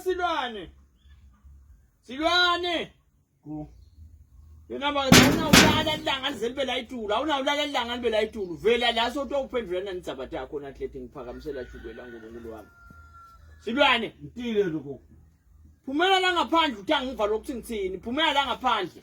silwane silwane yona awunawulala ilanga lize libe layitulu awunawulala ilanga libe layitulu vela la soto uphendula nanidzabat yakho natlete ngiphakamisela shukela nkulunkulu wami silwane ngitile lokho phumela la ngaphandle uthi angiva lokuthi ngithini phumela la ngaphandle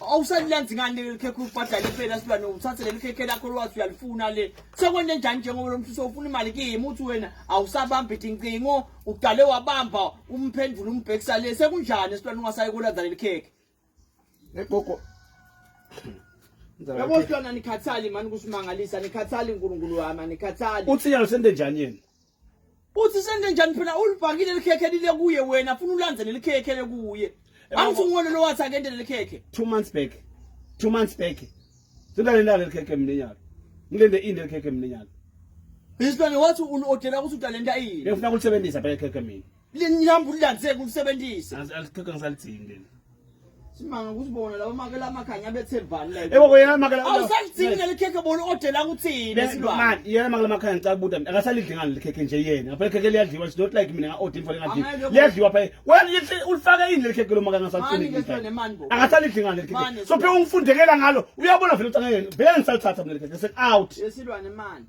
awusalenzi ngani leli khekhe ubhadale impela silwane uthathe leli khekhe lakho lwazi uyalifuna le sekwende njani njengoba lo mfisa ufuna imali kimi uthi wena awusabambi dincingo uqale wabamba umphendvula umbhekisa le sekunjani esilwane ungasayi kulandza leli khekhe egogo yabo silwana nikhathali mani kusimangalisa nikhathali unkulunkulu wami anikhathali uthi yalo sente njani yena Uthi senze njani phela ulibhakile likhekhe lile kuye wena funa ulandze lelikhekhe lekuye. Angithi ngone lo wathi akende lelikhekhe. 2 months back. 2 months back. Sindale lale likhekhe mina nyalo. Ngilende inde likhekhe mina nyalo. Isilwane wathi unoodela ukuthi utalenta ini. Ngifuna ukusebenzisa phela ikhekhe mina. Linihamba ulilandiseke ulisebenzise. Alikhokhe ngisalidingi leli. Simanga ukuthi bona laba makela amakhanya abethembani la. Yebo koyena makela. Awusalidingi leli khekhe bona odela kuthini esilwa. Man, yena makela amakhanya ngicela kubuta mina. Akasalidli ngani likhekhe nje yena. Ngabe khekhe liyadliwa it's not like mina nga order imfana ngadli. Liyadliwa phe. Wena yithi ulifaka ini leli khekhe lo makanga salidingi. Akasalidli ngani leli khekhe. So phe ungifundekela ngalo. Uyabona vele ukuthi angeke vele ngisalithatha mina leli khekhe. Set out. Yesilwane manje.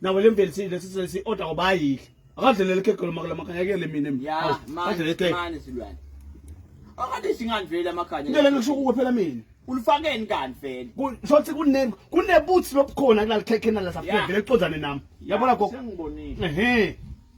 nawe le mveli sile sise si order obayile akadlelele ikhekhe lo makala makanya ke le mina mina ya Awu, ma adlelele ikhekhe mani silwane akade singani vele amakhanya ngeke ngisho kuwe phela mina ulifakeni kanti vele Ku- shothi kune kunebuthi lobukhona kulalikhekhe nala Ya. safike vele ixozane nami yabona gogo sengibonile ehe